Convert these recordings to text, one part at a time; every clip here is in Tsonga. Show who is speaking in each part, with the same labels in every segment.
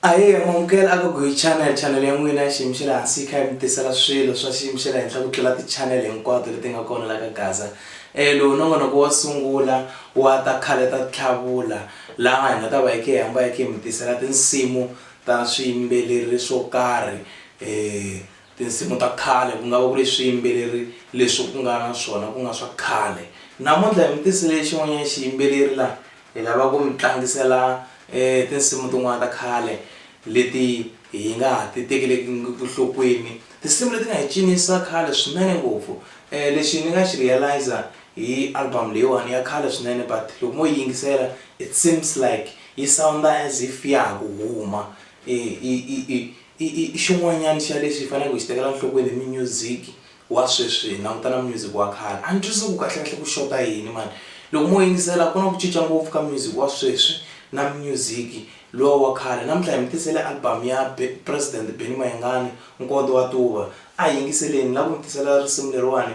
Speaker 1: aye mamukela a gogo hi channel channel ya n'wina xiyimo xa le hansi yi kha yi mi tisela swilo swa xiyimo xa le henhla ku tlula ti-channel hinkwato leti nga kona la ka gaza um lowu no vona ku wa sungula wa ta khale ta tlhavula laha hi nga ta va yi khe hi hamba yi khe hi mi tisela tinsimu ta swiyimbeleri swo karhi um Tinsimu ta khale ku nga va ku ri swiyimbeleri leswi ku nga na swona ku nga swa khale. Namuntlha hi mi tisele xin'wanyana xiyimbeleri la hi lava ku mi tlangisela tinsimu tin'wana ta khale leti hi nga ha ti tekeleki nhlokweni. Tinsimu leti nga hi cinisa khale swinene ngopfu. Lexi ni nga xi realiser hi album leyiwani ya khale swinene but loko mo yi yingisela it seems like yi sound-a as if ya ha ku huma I i xin'wanyana xa leswi hi faneleke hi xi tekela nhlokweni i minyuziki wa sweswi hi languta na music wa khale a ni twisisi ku kahle kahle ku xota yini mani loko mo yingisela ku na ku cinca ngopfu ka music wa sweswi na music luwa wa khale namuntlha hi mi tisele album ya president Benny Mayengani nkondzo wa tuva a hi yingiseleni ni la ku mi tisela risimu leriwani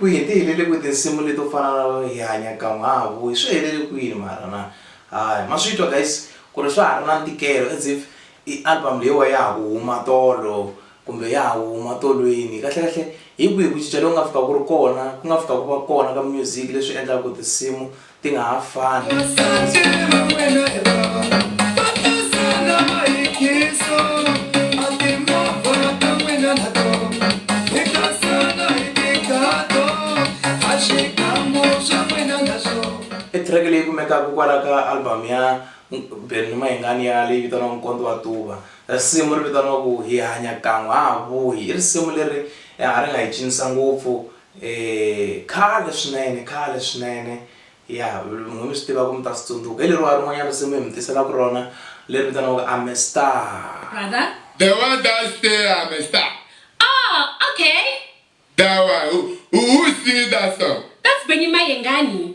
Speaker 1: kwihi ti helele kwihi tinsimu leto fana na hi hanya kan'we ha ha vuyi swi helele kwini mara na hayi ma swi twa guys ku ri swa ha ri na ntikelo as if i album leyiwa ya ha ku huma tolo kumbe ya ha huma tolweni kahlekahle hi kwihi ku cinca loku nga fika ku ri kona ku nga fika ku va kona ka music leswi endlaka ku tinsimu. ti nga ha fani. I track leyi kumekaka kwala ka album ya Benny Mayengani ya leyi vitaniwaka Nkonto wa Tuva. Risimu ri vitaniwaku Hi hanya kan'we ha ha vuyi i risimu leri a ri nga hi cinisa ngopfu E, khale swinene, khale swinene. Ya, n'wina mi swi tiva ku mi ta swi tsundzuka. Hi leriwa rin'wanyana risimu hi mi tiselaku rona, leri vitaniwaka I'm a Star. Brother. The
Speaker 2: one that
Speaker 3: say I'm a star. Oh, okay.
Speaker 2: That one, who,
Speaker 3: who, who sing that song? That's Benny Mayengani.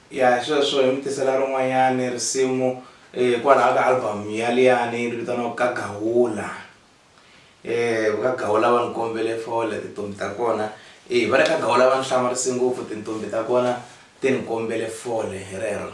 Speaker 3: Ya, hi sweswo hi
Speaker 1: mi tisela rin'wanyani risimu hikwalaho ka album ya liyani ri vitaniwaku Ka Gawula. Ka Gawula va ni kombele for le tintombhi ta kona, e va le ka Gawula va ni hlamarise ngopfu tintombhi ta kona ti ni kombele fole hi rero.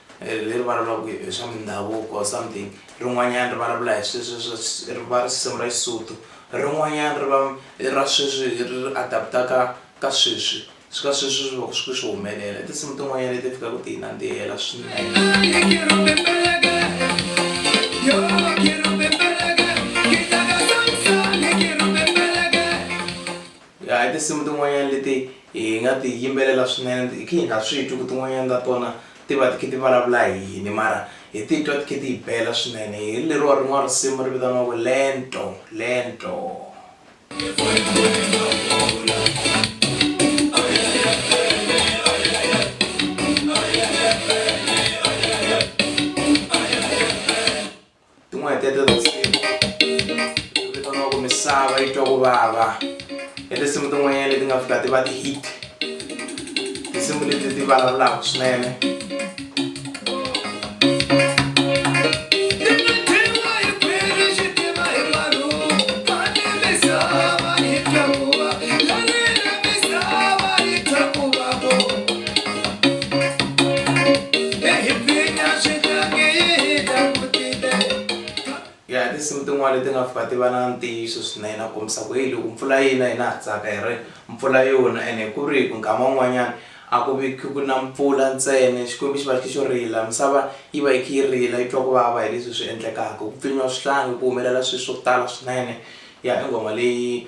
Speaker 1: ri vulavulaka hi swa mindhavuko or something rin'wanyana ri vulavula hi sweswi ri va risimu ra Xisotho rin'wanyana ri va i ra sweswi ri ri adapt-aka ka sweswi swi ka sweswi swi vaka swi kha swi humelela i tinsimu tin'wanyana leti fikaka ti hi nandzihela swinene A hi tinsimu tin'wanyana leti hi nga ti yimbelela swinene hi khe hi nga swi twi ku tin'wanyana ta tona ti va ti khe ti vulavula hi yini mara hi titwa ti khe ti hi bela swinene hi leriwa rin'wana risimu ri vitaniwaku lento lento. tin'wana teto tinsimu vitaniwaka misava yi twa ku vava i tinsimu tin'wanyana leti nga fika ti va ti-hit tinsimu leti ti vulavulaka swinene ya tinsimu tin'wana leti nga fika ti va na ntiyiso swinene na kombisa ku heyi loko mpfula yina hina ha tsaka hi ri mpfula yona ene ku ri hi ku nkama wun'wanyana a ku vi ku na mpfula ntsena xikwembu xi va xi xo rila misava yi va yi kha yi rila yi twa ku vava hi leswi swi endlekaka ku pfinyiwa swihlangi ku humelela swilo swo tala swinene ya i nghoma leyi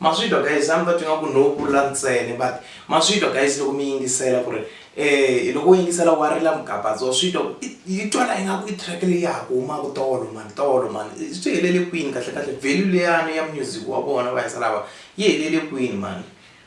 Speaker 1: maswitwa guys a ni ta twi nga ku no vula ntsene but maswitwa guys loko mi yingisela ku ri um loko u yingisela wa rila mugabatso switwa yi twala ingaku i track leyi ya ha ku humaku tolo mani tolo mani swi helele kwini kahle kahle value leyani ya music wa vona va hisa lava yi helele kwini mani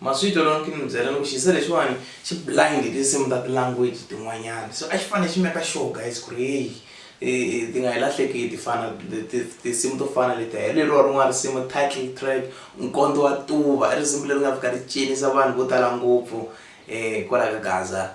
Speaker 1: Ma swi twa loko ni kha ni mi byela loko xisa lexiwani xi blind hi tinsimu ta ti-language tin'wanyana so a xi fanele xi make sure guys ku ri heyi ti nga hi lahleki ti fana tinsimu to fana leti hi leriwa rin'wana risimu title track nkondzo wa tuva i risimu leri nga fika ri cinisa vanhu vo tala ngopfu kwala ka gaza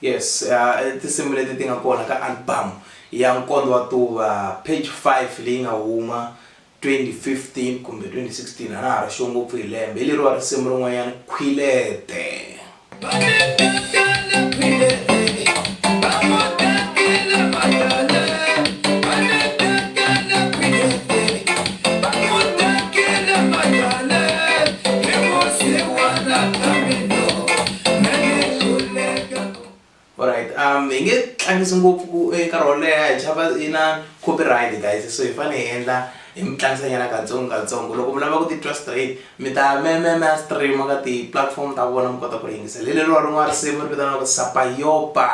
Speaker 1: Yes, uh, tinsimu leti ti nga kona ka album ya Nkondo wa Tuva page 5 leyi nga huma 2015 kumbe 2016 a na ha ri xo ngopfu hi lembe hi leriwa risimu rin'wanyana khwilete Alright, um, hi nge tlangisi ngopfu ku eh, nkarhi wo leha hi chava yi na copyright guys so hi fanele hi endla hi mi tlangisanyana katsongo katsongo loko mi lava ku titwa straight mi ta me me me stream ka ti-platform ta vona mi kota ku ri yingisela hi leriwa rin'wana risimu ri vitaniwaka sapayopa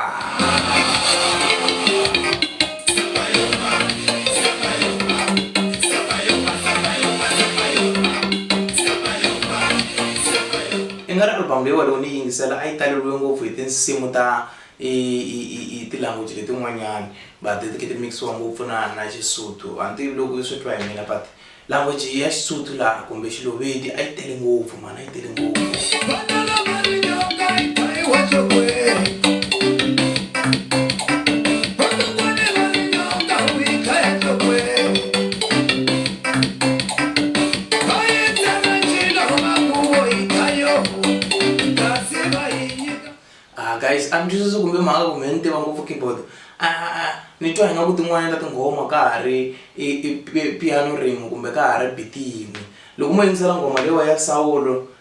Speaker 1: I nga ri album leyi walowo ni yi yingisela a yi taleriwe ngopfu hi tinsimu ta ti-language letin'wanyani but ti khe ti mix-iwa ngopfu na na Xisotho. A ni tivi loko swi twa hi mina but language ya Xisotho laha kumbe Xilovedi a yi tele ngopfu mhani a yi tele ngopfu. Ah, guys a ni twisisi kumbe mhaka kumbe ni tiva ngopfu keyboard a ah, ah, ah, ni twa ingaku tin'wana ta tinghoma ka ha ri piano rin'we kumbe ka ha ri biti yin'we loko mo yingisela nghoma leyiwa ya sawulo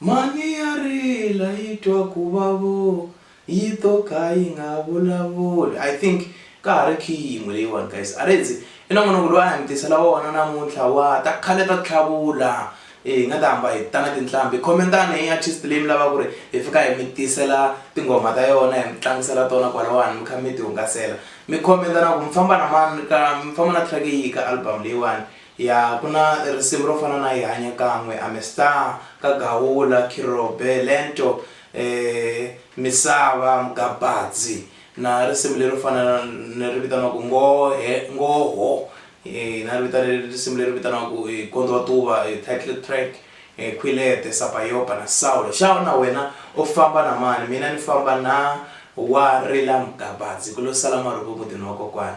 Speaker 1: Mhani ya rila yi twa ku vavo yi to ka yi nga vulavuli. I think ka ha ri key yin'we leyiwani guys. A ri ze i nongonoko lowu a hi mi tisela wona namuntlha wa ta khale ta tlhavula. Hi nga ta hamba hi ta na tinhlambi. Comment-ani hi artist leyi mi lavaka ku ri hi fika hi mi tisela tinghoma ta yona hi mi tlangisela tona kwalawani mi kha mi ti hungasela. Mi comment-a na ku mi famba na mani ka mi famba na track yihi ka album leyiwani. Ya, ku na risimu ro fana na Hi Hanya Kan'we, I'm a Star, Ka Gawula, Khirobe, Lento, eeh, Misava, Mgabadzi, na risimu lero fana na ri vitaniwaku Ngohe, Ngoho, eeh, na ri vita ri risimu leri vitaniwaku Gondzo wa Tuva, title track, Khwilete, Sapayopa na Saulo. Xawa na wena u famba na mani, mina ni famba na Wa Rila Mgabadzi, ku lo sala marhuvu emutini wa kokwana.